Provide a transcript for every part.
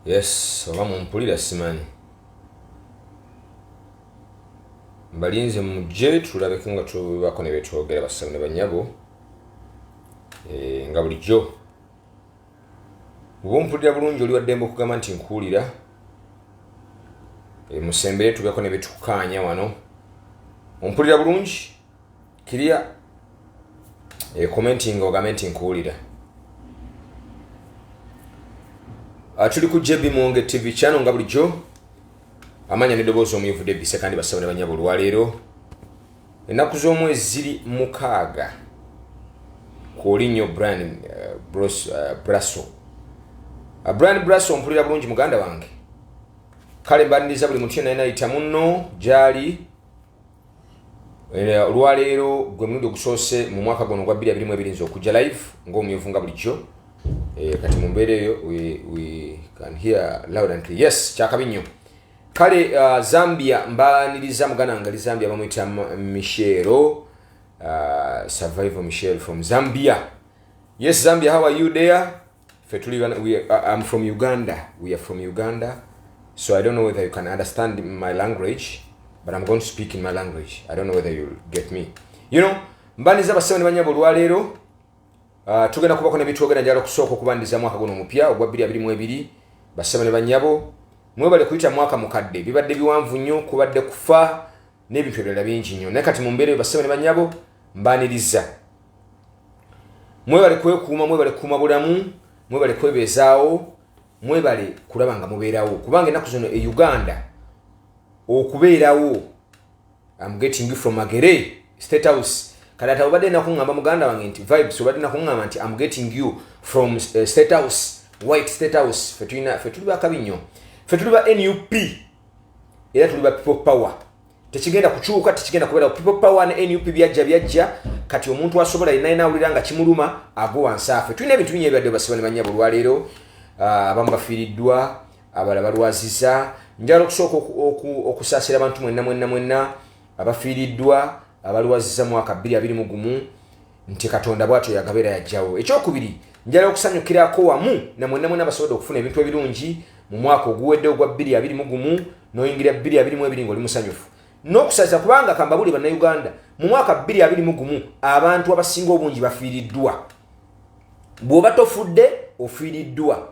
yes oba mumpulira simanyi mbalinze mujje tulabeko nga tubako nebyetwogera basabu ne banyabo eh, nga bulijjo oba ompulira bulungi oli waddembe okugamba nti nkuwulira eh, musembere tubeko nebyetukukaanya wano ompulira bulungi kiriya e commenting ogambe nti nkuwulira ah, tuli ku jb mwonge tv kyano nga bulijjo amanya nedoboozi omuyivudde bise kandi basabana banyabo olwaleero ennaku z'omwezi ziri mukaaga kwoli nnyo brian eh, eh, brasso ah, brian brasso mpulira bulungi muganda wange kale mbaniriza buli muntu yenayinayita munno gyali Eh, olwaleero gwe mulundi ogusoose mu mwaka guno ogwa 22 nze okujja live ngaomumyuvu nga bulijjo eh, kati mu mbeera eyo yes kyakabi nnyo kale uh, zambia mbaniriza muganda wange ali zambia bamuyita michelo uh, survival michel from zambia yes zambia how are you there Fe tuli bana, we, uh, I'm from Uganda. We are from Uganda. So I don't know whether you can understand my language, but I'm going to speak in my language. I don't know whether you'll get me. You know, mbaniza basebo ne banyabo lwalero uh, tugenda kubako ne bitwogera njalo kusoko kubandiza mwaka guno mupya ogwa 2022 basebo ne banyabo mwebale kuyita mwaka mukadde bibadde biwanvu nnyo kubadde kufa n'ebintu ebirala bingi nnyo naye kati mu mbeera eyo basebo ne banyabo mbaniriza mwebale kwekuuma mwebale kukuuma bulamu mwebale kwebeezaawo mwebale kulaba nga mubeerawo kubanga ennaku zino e uganda okubeerawo am getting you from magere state house kati ati obadde nakuŋŋamba muganda wange nti vibes obadde nakuŋŋamba nti am getting you from uh, state house white state house fe tuli bakabi nnyo fe tuli ba nup era tuli ba people power tekigenda kukyuka tekigenda kubeera people power ne nup byajja byajja kati omuntu asobola yena yena awulira nga kimuluma ago wansi afe tulina ebintu binyo ebyadde basiba ne manyabo olwaleero ah, abamu bafiiriddwa abala balwaziza njala okusooka okusaasira abantu mwenna mwenna mwenna abafiiriddwa abalwaziza mwaka bbiri abiri mu gumu nti katonda bwatyo yagaba era yajjawo ekyokubiri njala okusanyukirako wamu namwenamwena basobodde okufuna ebintu ebirungi mu mwaka oguwedde ogwa 22 mugumu noyingira 22 ngaoli musanyufu nokusaza kubanga kambabuli banauganda mu mwaka 22 mugumu abantu abasinga obungi bafiiriddwa bwoba tofudde ofiiriddwa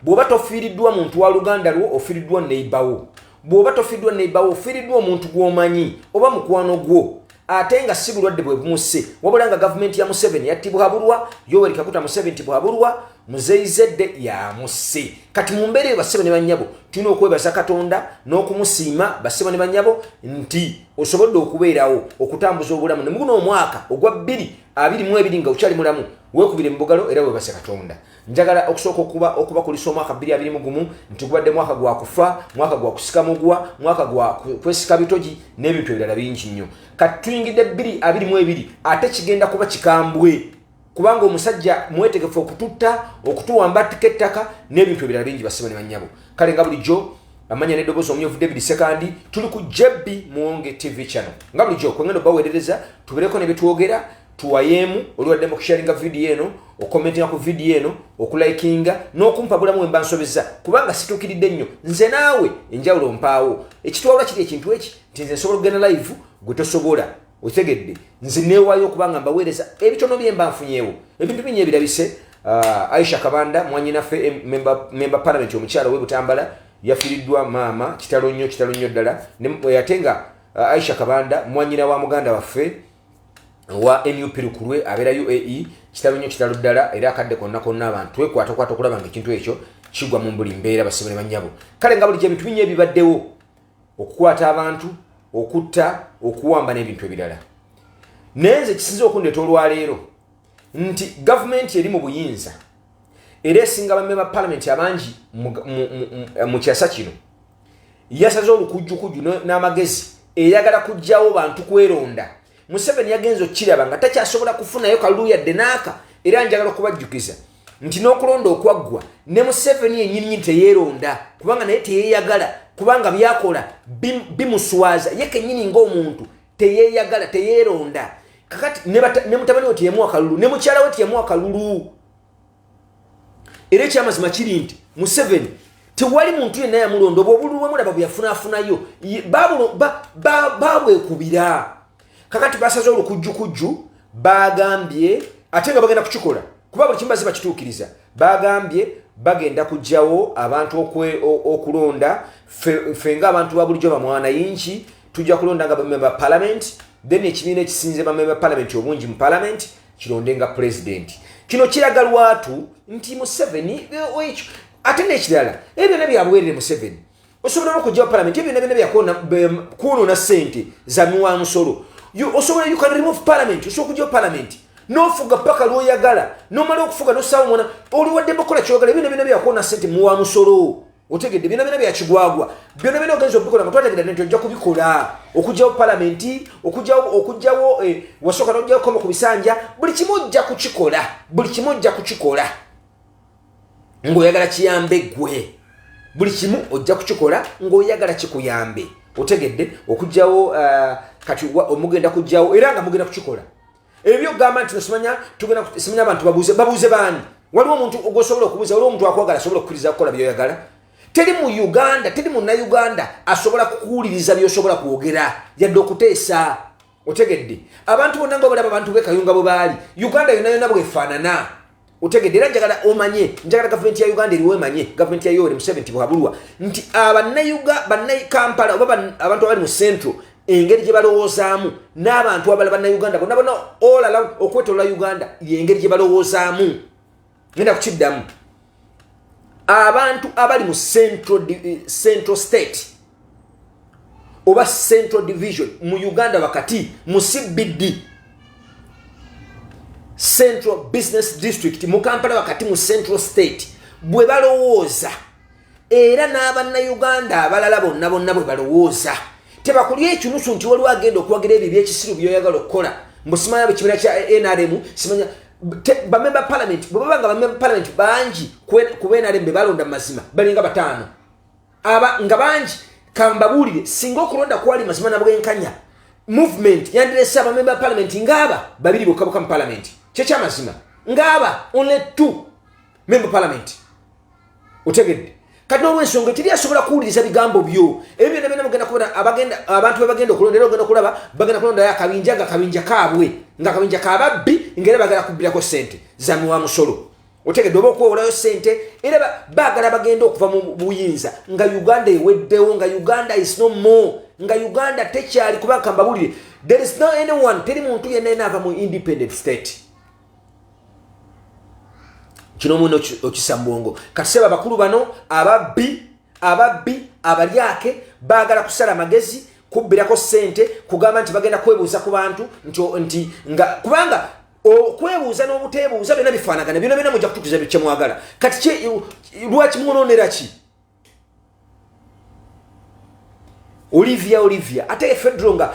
bw'oba tofiiriddwa muntu wa luganda lwo ofiiriddwa neibawo bw'oba tofiiriddwa neibawo ofiiriddwa omuntu gw'omanyi oba mukwano gwo ate nga si bulwadde bwe bumusse wabula nga gavumenti ya museveni yattibwabulwa yoweri kaguta museveni ntibwabulwa muzeyizedde yamusse kati mu mbeera eyo bassebo ne bannyabo tulina okwebaza katonda n'okumusiima bassebo ne bannyabo nti osobodde okubeerawo okutambuza obulamu ne muguno omwaka ogwa bbiri abiri mu ebiri nga okyali mulamu weekubire mu bugalo era webaze katonda njagala okusooka okuba okubakulisa omwaka bbiri abiri mu gumu nti gubadde mwaka gwa kufa mwaka gwa kusika mugwa mwaka gwa kwesika bitogi n'ebintu ebirala bingi nnyo kati tuyingidde bbiri abiri mu ebiri ate kigenda kuba kikambwe kubanga omusajja mwetegefu okututta okutuwamba attika ettaka n'ebintu ebirala bingi basiba ne bannyabo kale nga bulijjo amanya nedobozi omuyovu david sekandi tuli ku jebbi muwonge tv channel nga bulijjo kwengendo baweerereza tubeereko ne byetwogera tuwayeemu oli waddemu okusharinga vidiyo eno okomentinga ku vidiyo eno okulikinga n'okumpagulamu wemba nsobeza kubanga situukiridde nnyo nze naawe enjawulo mpaawo ekitwawula kiri ekintu eki nti nze nsobola okugenda live gwe tosobola otegedde nze neewaayo okubanga mbaweereza ebitono bye mba nfunyeewo ebintu binyo ebirabise uh, aisha kabanda mwanyinaffe eh, memba palamenti omukyala we butambala yafiiriddwa maama kitalo nnyo kitalo nnyo ddala eh, ate nga uh, aisha kabanda mwanyina wa muganda waffe owa nup lukulwe abeera uae kitalo nnyo kitalo ddala era akadde konna konna abantu twekwatakwata okulaba nga ekintu ekyo kigwa mu buli mbeera basibule bannyabo kale nga bulijo ebintu binyo ebibaddewo okukwata abantu okutta okuwamba n'ebintu ebirala naye nze kisinza okundeeta olwaleero nti gavumenti eri mu buyinza era esinga bamme ba palamenti abangi mu kyasa kino yasaze olukujjukujju n'amagezi eyagala kujjawo bantu kweronda museveni yagenza okukiraba nga takyasobola kufunayo kalulu yadde naaka era njagala okubajjukiza nti n'okulonda okwaggwa ne museveni yenyininyini teyeeronda kubanga naye teyeyagala kubanga byakola bimuswaza ye kenyini ngaomuntu teyeyagala teyeeronda kakati ne mutabani we teyamuwa kalulu ne mukyala we teyamuwa kalulu era ekyamazima kiri nti museveni tewali muntu yenna yamulonda obwo obululu bwemulaba bweyafunafunayo babwekubira kakati basaze olukujjukujju bagambye ate nga bagenda kukikola kuba buli kimaze bakituukiriza bagambye bagenda kugyawo abantu okulonda fe nga abantu babulijjo bamwana yingi tujja kulonda nga bamemba palamenti then ekibiina ekisinze bamemba palamenti obungi mu palamenti kironde nga pulezidenti kino kiraga lwatu nti museveni eh, ekyo ate nekirala ebyo byonna byabwerere museveni osobola nokugyawo palamenti ebyo byonna byonna byakwonona sente zanuwa musolo osobola you can remove palamenti osobola okugyawo palamenti nofuga paka lwoyagala nomala okufuga nosaawo mwana oliwadde bakola kyogala ebyo byonna byona byakwonona sente muwa musolo otegedde byona byona byakigwagwa byona byona ogenza okubikola nga twategedde nti ojja kubikola okugyawo palamenti okugyawo okugyawo eh, wasooka nojjawo koma ku bisanja buli kimu ojja kukikola buli kimu ojja kukikola ng'oyagala kiyambe gwe buli kimu ojja kukikola ng'oyagala kikuyambe otegedde okugyawo eh, kati omugenda kugyawo era nga mugenda kukikola ebyo gamba nti simanya tugenda simanya abantu babuze babuze bani waliwo omuntu ogwosobola okubuza waliwo omuntu akwagala asobola okukiriza kukola byoyagala teri mu uganda teri munauganda asobola kukuwuliriza byosobola kwogera yadde okuteesa otegedde abantu bonna nga obalaba abantu bekayunga bwe baali uganda yona yona bwefaanana otegedde era njagala omanye njagala gavumenti ya uganda eriwo emanye gavumenti ya yoweri museveni tibwabulwa nti abanayuga banakampala oba abantu abali mu central engeri gye balowoozaamu n'abantu abala bannauganda bonna bona olala okwetolola uganda yengeri gye balowoozaamu genda kukiddamu abantu abali mu central, eh, central state oba central division mu uganda wakati mu cbd central business district mu kampala wakati mu central state bwe balowooza era n'abannayuganda abalala bonna bonna bwe balowooza tebakulya ekinusu nti waliwo agenda okuwagira ebyo byekisiru byoyagala okukola mbusimanya bwekibina kya nrm simanya bamemba palamenti bwebaba nga bamemba palamenti bangi ku nrm bebalonda mu mazima balinga bataano aba nga bangi kambabuulire singa okulonda kwali mazima na bwenkanya movement yandirese abamemba ba palamenti ngaaba babiri bokka bokka mu palamenti kyekyamazima ngaaba only two memba palamenti otegedde kati nolwensonga eteri asobola kuwuliriza bigambo byo ebyo byona byona mugenda kubera abantu bebagenda okulonda era ogenda okulaba bagenda kulondayo akabinja nga kabinja kaabwe nga kabinja kababbi ngaera bagala kubbirako sente zamiwa musolo otegedde oba okwewolayo sente era bagala bagenda okuva mu buyinza nga uganda eweddewo nga uganda is no more nga uganda tekyali kuba kambabulire there is no anyone teri muntu yenna yena ava mu independent state kino muna okisa mubwongo kaseba bakulu bano ababbi ababbi abalyake bagala kusala amagezi kubbirako sente kugamba nti bagenda kwebuuza ku bantu nti nga kubanga okwebuuza n'obuteebuuza byona bifaanagana byona byona mujja kutukiza kyemwagala kati lwaki mwononera ki olivia olivia ate fedro nga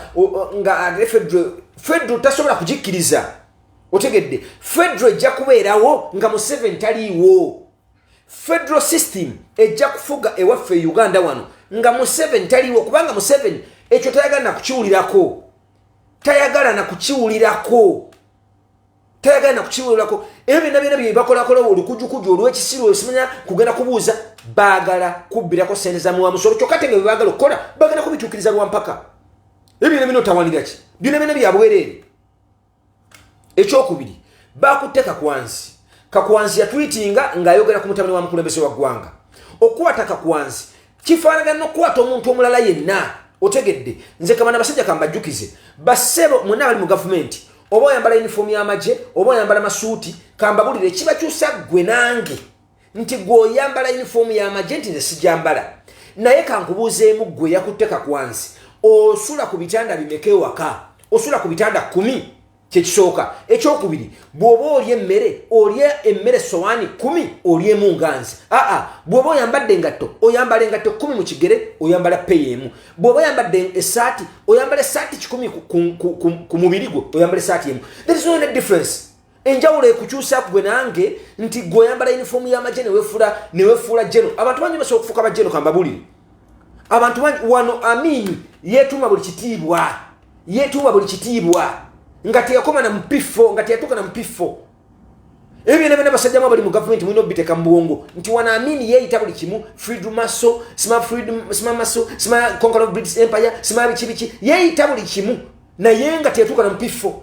nga fedro fedro tasobola kugikkiriza otegedde fedro ejja kubeerawo nga museven taliiwo fedro system ejja kufuga ewaffe e uganda wano nga museven taliiwo kubanga museven ekyo tayagala nakukiwulirako tayagala na kukiwulirako tayagala na kukiwulirako ebyo byonna byona byebakolakolawo olukujukuju olwekisiru olwesimanya kugenda kubuuza baagala kubbirako sente za muwa musolo kyokka tenge bebagala okukola bagenda kubituukiriza lwampaka ebyo byona byona otawanira ki byona byona byabwereere ekyokubiri bakutte kakwanzi kakwanzi yatwitinga ng'ayogera ku mutabani wa mukulembeze wa ggwanga okukwata kakwanzi kifaanagana n'okukwata omuntu omulala yenna otegedde nze kabana basajja kambajjukize basebo mwena abali mu gavumenti oba oyambala yunifoomu y'amagye oba oyambala masuuti kambabulire kibakyusa ggwe nange nti gwe oyambala yunifoomu y'amagye nti nze sijambala naye kankubuuzeemu ggwe yakutte kakwansi osula ku bitanda bimeka ewaka osula ku bitanda kumi kyekisooka ekyokubiri bwoba oli emmere oli emmere sowaani kumi oli emu nganzi aa bwoba oyambadde engatto oyambala engatto kumi mu kigere oyambala peyi emu bwoba oyambadde esaati oyambala esaati kikumi ku mubiri gwo oyambala esaati emu there is no any difference enjawulo ekukyusa gwe nange nti gwe oyambala yunifoomu y'amagye newefula newefuula jeno abantu bangi basobola okufuuka bajeno kambabulire abantu bangi wano amiini yeetuuma buli kitiibwa yetuwa buli kitiibwa nga teyakoma na mupiffo nga teyatuuka na mupiffo ebyo byona byona basajja mu abali mu gavumenti mulina obiteka mu bwongo nti wano amini yeeyita buli kimu freedom maso sima freedom sima maso sima conquer of british empire sima biki biki yeeyita buli kimu naye nga teetuuka na mupifo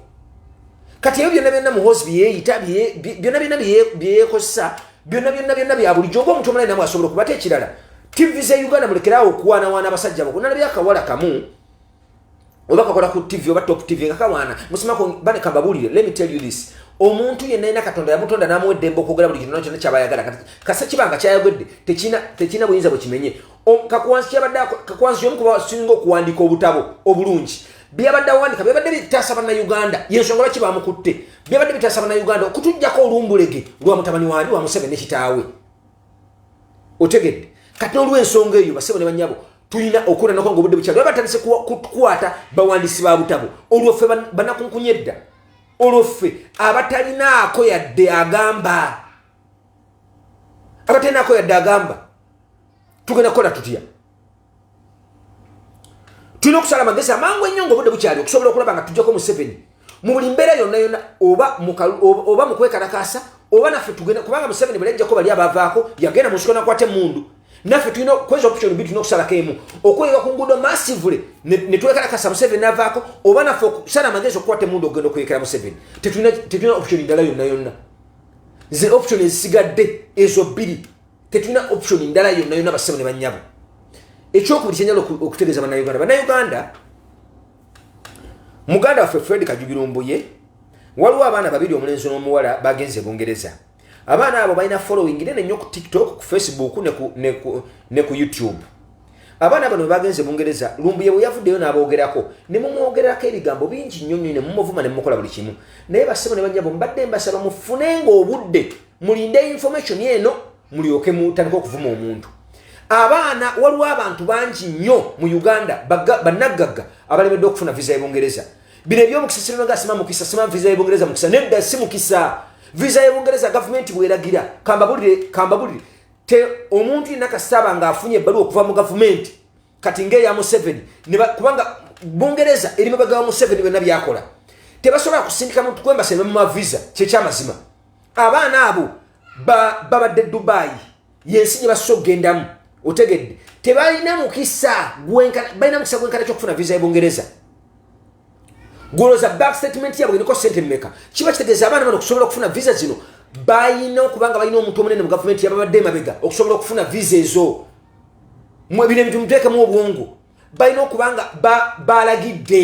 kati ebyo byona byona muhozi byeyeeyita byona byona byeyekozesa byona byona byona bya bulijjo oba omuntu omulai namu asobola okubata ekirala tv ze uganda mulekeraawo okuwaanawaana abasajja bako nalabyakawala kamu oba kakola ku tv oba top tv nga kawaana musimako bane kambabuulire let me tell you this omuntu yenna yena katonda yamutonda namuwa eddembe okwogera buli kintu nakyona kyaba ayagala kati kasa kiba nga kyayogedde tekirina buyinza bwe kimenye kakwansi kyabadde kakwansi yomu kuba singa okuwandiika obutabo obulungi byabadde awandika byabadde bitaasa bannayuganda yensonga lwaki bamukutte byabadde bitaasa bannayuganda okutujjako olumbulege lwa mutabani waani wa museveni ne kitaawe otegedde kati olwensonga eyo basebo ne banyabo tulina okola nako nga obudde bukyalo batandise kukwata bawandiisi ba butabo olwo ffe banakunkunya edda olwo ffe abatalinaako yadde agamba abatalinaako yadde agamba tugenda kukola tutya tulina okusala amagezi amangu ennyo nga obudde bukyali okusobola okulaba nga tujjako museveni mu buli mbeera yonna yonna oba mu kwekalakaasa oba naffe tugenda kubanga museveni bwelajjako bali abavaako yagenda mu nsiko nakwata emundu naffe tulina kweza option bi tulina okusalako emu okweyeka ku nguudo massively ne twekalakasa museveni navaako oba naffe okusala amagezi okukwata emundu okugenda okweyekera museveni tetulina option ndala yonna yonna ze option ezisigadde ezo bbiri tetulina option ndala yonna yonna bassebo ne bannyabo ekyokubiri kyenyala okutegeeza bannayuganda bannayuganda muganda waffe fred kajugiro mbuye waliwo abaana babiri omulenzi n'omuwala bagenze bungereza abaana abo balina following nene nnyo ku tiktok ku facebook ne ku youtube abaana bano bebagenze bungereza lumbuye bwe yavuddeyo n'aboogerako ne mumwogererako ebigambo bingi nnyo nnyo ne mumuvuma ne mumukola buli kimu naye bassebo ne banyabo mbadde mbasaba mufunenga obudde mulinde information eno mulyoke mutandika okuvuma omuntu abaana waliwo abantu bangi nnyo mu uganda banaggagga abalemedde okufuna visa yebungereza bino ebyomukisa sirinaga sima mukisa sima visa yebungereza mukisa nedda si mukisa visa yebungereza gavumenti bweragira kambabulire kambabulire te omuntu yenna kasitaaba ngaafunye ebbaluwa okuva mu gavumenti kati ngaeya museveni kubanga bungereza eri mabega wa museveni byonna byakola tebasobola kusindika muntu kwembasa ne bamuma visa kyekyamazima abaana abo babadde dubaayi yensi gye basosa okugendamu otegedde tebalina mukisa balina mukisa gwenkana kyokufuna visa ebungereza goloza back statement yabwe niko sente mumeka kiba kitegeeza abaana bano okusobola okufuna visa zino balina okuba nga balina omuntu omunene mu gavumenti yababadde emabega okusobola okufuna visa ezo mwebino ebintu muteekemu obwongo balina okuba nga balagidde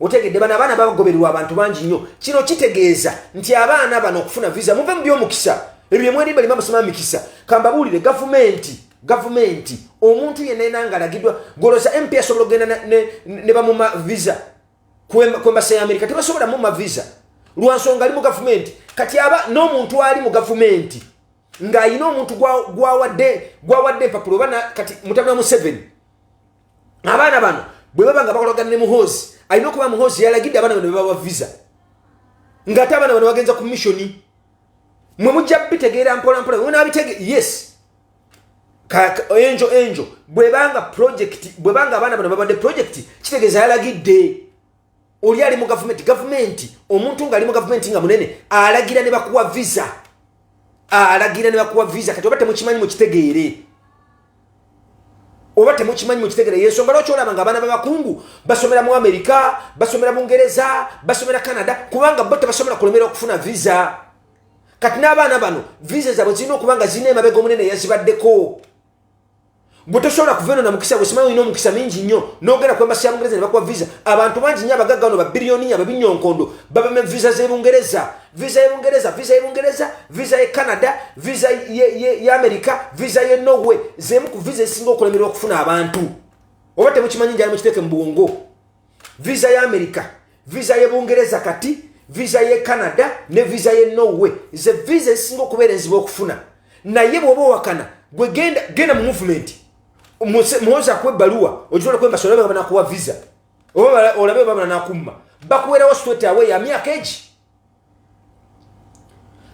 otegedde bano abaana bagobererwa abantu bangi nnyo kino kitegeeza nti abaana bano okufuna visa muve mu byomukisa ebyo byemwerimba limu amasoma mikisa kambabuulire gavumenti gavumenti omuntu yenna yena nga alagiddwa goloza mp asobola okugenda ne bamuma visa kwembasa ya amerika tebasobola muma visa lwansonga ali mu gavumenti kati aba n'omuntu ali mu gavumenti ng'alina omuntu gwawadde empapulo oba kati mutabula museveni abaana bano bwe baba nga bakolagana ne muhoozi alina okuba muhoozi yalagidde abaana bano bebawa visa ngaate abaana bano bagenza ku missioni mwe mujja bitegeera mpolampola nabitege yes enjo enjo bwebanga project bwebanga abaana bano babadde project kitegeeza yalagidde oli ali mu gavumenti gavumenti omuntu ngaali mu gavumenti nga munene alagira ne bakuwa visa alagira ne bakuwa visa kati oba temukimanyi mukitegeere oba temukimanyi mukitegeere yensonga lwaki olaba nga abaana babakungu basomera mu amerika basomera bungereza basomera canada kubanga bo tebasobola kulemera okufuna visa kati n'abaana bano visa zabwe zirina okuba nga zirina emabega omunene yazibaddeko gwe tosobola kuva eno na mukisa gwe simanyi olina omukisa mingi nnyo n'ogenda ku embasi ya bungereza ne bakuwa visa abantu bangi nnyo abagagga bano babiriyoniya babinyonkondo babame visa z'ebungereza visa y'ebungereza visa y'ebungereza visa ye canada visa y'amerika visa ye norway z'emu ku visa ezisinga okulemerwa okufuna abantu oba temukimanyi njala mukiteeke mu bwongo visa ya america visa ye bungereza kati visa ye canada ne visa ye norway ze visa ezisinga okubeera enzibu okufuna naye bwoba owakana gwe genda genda mu movement muwoza kuwa ebbaluwa ogisobola kwemba solabe banakuwa visa oba olabe oba banakumma bakuwerawo straight away ya myaka egi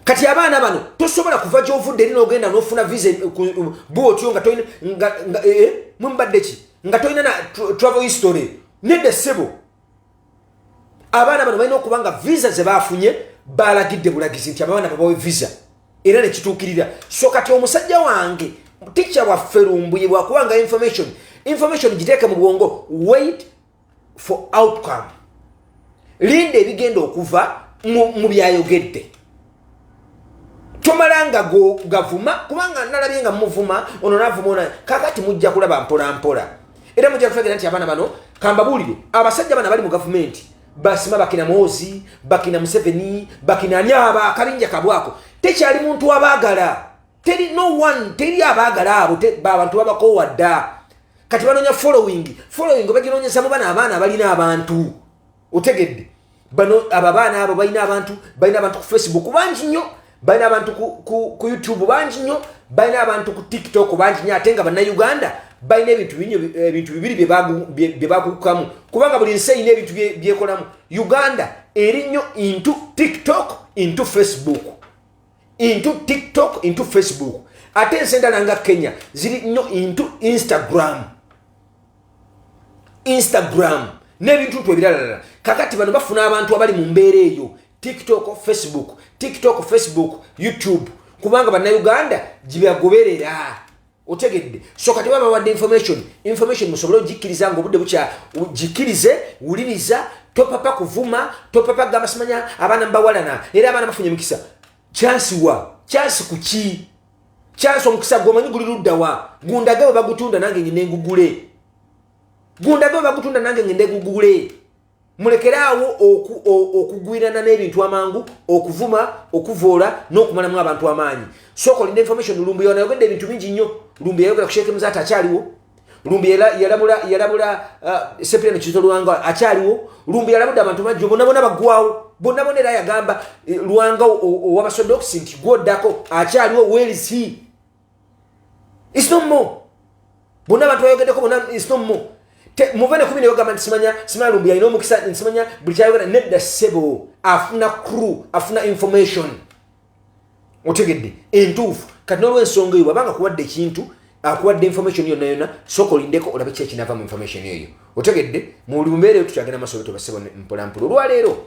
kati abaana bano tosobola kuva gyovudde eri nogenda nofuna visa eh, bwe otyo nga tolina eh, eh, mwemubadde ki nga tolina na travel history nedda ssebo abaana bano balina okuba nga visa zebafunye balagidde bulagizi nti abaana babawe visa era nekituukirira so kati omusajja wange tikya waffe lumbuye bwakuba nga information information giteeke mu bwongo wait for outcome linda ebigenda okuva mu byayogedde tomala nga gavuma kubanga nalabye nga muvuma ono navuma ona kakati mujja kulaba mpolampola era mujja kutegera nti abaana bano kambabuulire abasajja bana bali mu gavumenti basima bakina mwozi bakina museveni bakina ani abo akabinja kabwako tekyali muntu abaagala teri no one teri abaagala abo babantu babakowa dda kati banonya following following obaginonyeza mu bana abaana balina abantu otegedde bano abo abaana abo balina abantu balina abantu ku facebook bangi nnyo balina abantu ku youtube bangi nnyo balina abantu ku tiktok bangi nnyo ate nga bannauganda balina ebintu binyo ebintu bibiri byebakukukamu kubanga buli nsi erina ebintu byekolamu uganda eri nnyo intu tiktok intu facebook into tiktok into facebook ate ensi endala nga kenya ziri nnyo into instagram instagram n'ebintu ntu ebiralalala kakati bano bafuna abantu abali mu mbeera eyo tiktok facebook tiktok facebook youtube kubanga bannauganda gyebagoberera otegedde so kati baba wadde information information musobole ogikkiriza nga obudde bukya gikkirize wuliriza topapa kuvuma topapa gamba simanya abaana mubawalana era abaana bafunye emikisa kyansi wa kyansi ku ki kyansi omukisa gwe omanyi guli ludda wa gundage bwe bagutunda nange ngende ngugule gundage bwe bagutunda nange ngende ngugule mulekere awo okugwirana n'ebintu amangu okuvuma okuvoola n'okumalamu abantu amaanyi sooka olina information lumbu yanayogedde ebintu bingi nnyo lumbu yayogera ku sheekemu zaati akyaliwo lumbu yalabula uh, sepireno kizo lwanga akyaliwo lumbu yalabudde abantu bajjo bonabona baggwawo bonabona era yagamba eh, lwanga owabasodox nti gwoddako akyaliwo welsi is no more bonna abantu bayogeddeko bona is no more muve ne kubino yogamba nti simanya simalumbu yalina omukisa nti simanya buli kyayogera nedda sebo afuna crew afuna information otegedde entuufu kati nolwensonga eyo bwabanga kuwadde ekintu akuwadde information yonna yonna soka olindeko olabe ki ekinava mu information eyo otegedde mu buli mumbeera eyo tukyagenda masobe tubasebo mpolampola olwaleero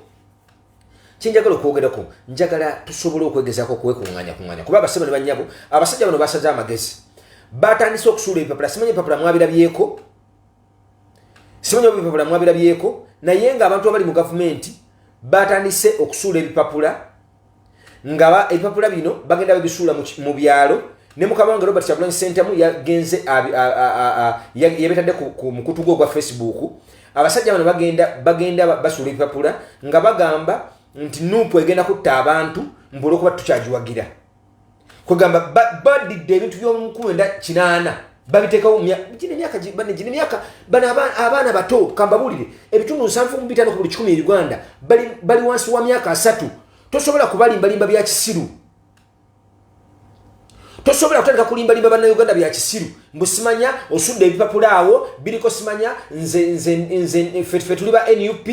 kyenjagala okwogerako njagala tusobole okwegezako okwekunganya kunganya kuba abasebo ne banyabo abasajja bano basaze amagezi batandise okusuula ebipapula simanyi ebipapula mwabirabyeko simanyi oba ebipapula mwabirabyeko naye nga abantu abali mu gavumenti batandise okusuula ebipapula nga ebipapula bino bagenda babisuula mu byalo ne mukama wange robert kyagulanyi sentamu yagenze yabetadde ku mukutu gwe ogwa facebook abasajja bano bagenda bagenda basuula ebipapula nga bagamba nti nuupu egenda kutta abantu mbuolwokuba tukyagiwagira kwegamba badidde ebintu by'omukulu enda kinaana babiteekawo gino emyaka gino emyaka bano abaana bato kambabuulire ebitundu nsanvu mu bitaano ku buli kikumi e uganda bali wansi wa myaka asatu tosobola kubalimbalimba bya kisiru tosobola kutandika kulimbalimba bannauganda bya kisiru mbu simanya osudde ebipapula awo biriko simanya fe tuli ba nup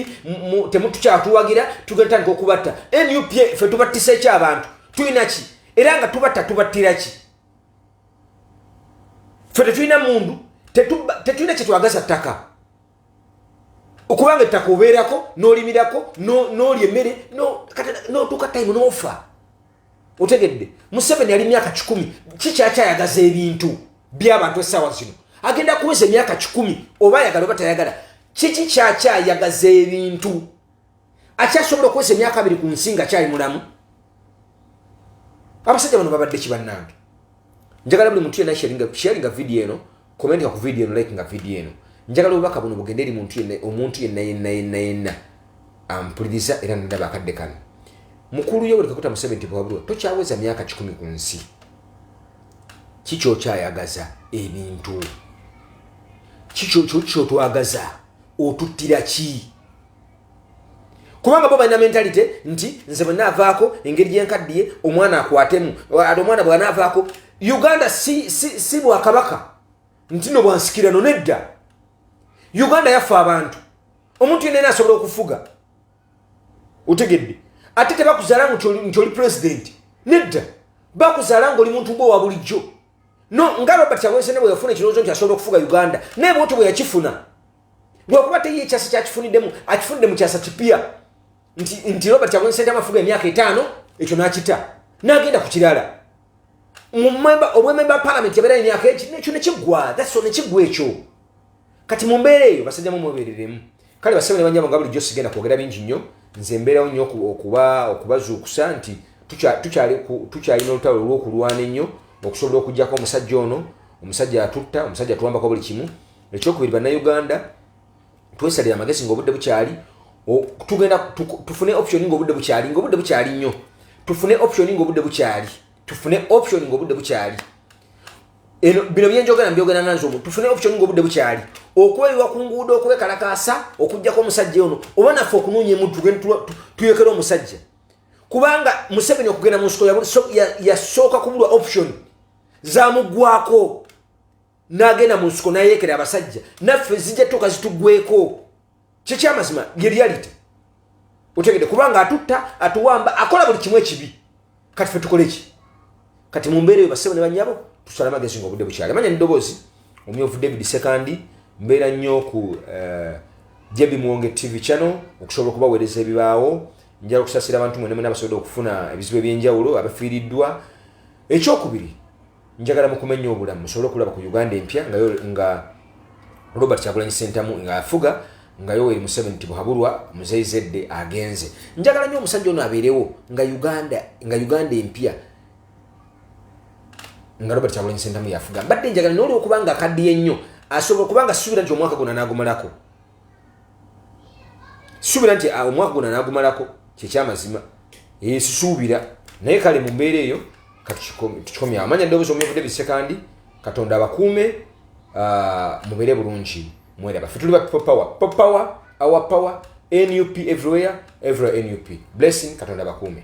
temutukyatuwagira tugetandika okubatta nup fe tubattisa eki abantu tulina ki era nga tubatta tubattira ki fe tetulina mundu tetulina kyetwagaza ttaka okubanga ettaka obeerako n'olimirako n'olya emmere n'otuuka time n'ofa otegedde museveni yali myaka kikumi kikyakyayagaza ebintu by'abantu essaawa zino agenda kuweza emyaka kikumi oba ayagala oba tayagala kiki kyakyayagaza ebintu akyasobola okukozesa emyaka abiri ku nsi nga kyali mulamu abasajja bano babadde kibannange njagala buli muntu yenna sharinga vidiyo eno komentika ku vidiyo eno like nga vidiyo eno njagala obubaka buno bugende eri muntu yenna omuntu yenna yenna yenna yenna ampuliriza era nadaba akadde kano mukulu yoweri kakuta musebe nti bwabulwa tokyaweza myaka kikumi ku nsi kikyokyayagaza ebintu kikyotwagaza otuttira ki kubanga bo balina mentalite nti nze bwe naavaako engeri gyenkaddiye omwana akwatemu ate omwana bwanaavaako uganda si, si, si bwakabaka nti no bwansikirano nedda uganda yaffe abantu omuntu yenna ena asobola okufuga otegedde ate tebakuzala nti oli pulezidenti nedda bakuzala ngaoli muntu gwe owa bulijjo no nga robert awensene bwe yafuna ekirowoozo nti asobola okufuga uganda naye bwoto bwe yakifuna lwakuba teri ekyasa kyakifuniddemu akifunidde mu kyasa kipya nti nti robert kyagulanyi sentamu afuga emyaka etaano ekyo n'akita n'agenda ku kirala obwememba palamenti yabeera emyaka ekyo nekiggwa that's all nekiggwa ekyo kati mu mbeera eyo basajja mu mwebereremu kale basebo ne banyabo nga bulijjo sigenda kwogera bingi nnyo nze mbeerawo nnyo okuba okubazuukusa nti tukyalina olutalo olw'okulwana ennyo okusobola okugyako omusajja ono omusajja atutta omusajja atuwambako buli kimu ekyokubiri bannayuganda twesalira amagezi ngaobudde bukyali tugenda tufune option ngaobudde bukyali ngaobudde bukyali nnyo tufune option ngaobudde bukyali tufune option ngaobudde bukyali eno bino byenjogera mbyogera nga nze omuntu tufune option ngaobudde bukyali okweyiwa ku nguudo okwekalakaasa okugjako omusajja ono oba naffe okunoonya emuntu tuyekera omusajja kubanga museveni okugenda mu nsiko yasooka kubulwa option zamugwako n'agenda mu nsiko n'ayeekera abasajja naffe zijja tuka zitugweko kyekyamazima ye reality otegede kubanga atutta atuwamba akola buli kimu ekibi kati fe tukole ki kati mu mbeera eyo basebo ne banyabo tusala amagezi nga obudde bukyali manya nedoboozi omyovu david sekandi mbeera nnyo ku eh, jebi muwonge tv channel okusobola okubaweereza ebibaawo njala okusasira abantu mwene mwena basobodde okufuna ebizibu ebyenjawulo abafiiriddwa ekyokubiri njagala mukumenya obulamu musobole okulaba ku uganda empya nga, nga robert kyagulanyi sentamu nga afuga nga yoweri museveni tibuhaburwa muzeyi zedde agenze njagala nyo omusajja ono abeerewo nga uganda nga uganda empya nga robert kyagulanyi sentamu yafuga mbadde njagala nolwokubanga akaddiye nnyo asobola kubanga suubira nti omwaka gona nagumalako suubira nti ah, omwaka gona nagumalako kyekyamazima esusuubira naye kale mu mbeera eyo katukikomya amanya ddoboozi omuyavudde bisekandi katonda abakuume ah, mubeere bulungi mweraba fe tuli ba people power people power our power nup everywhere everywhere nup blessing katonda abakuume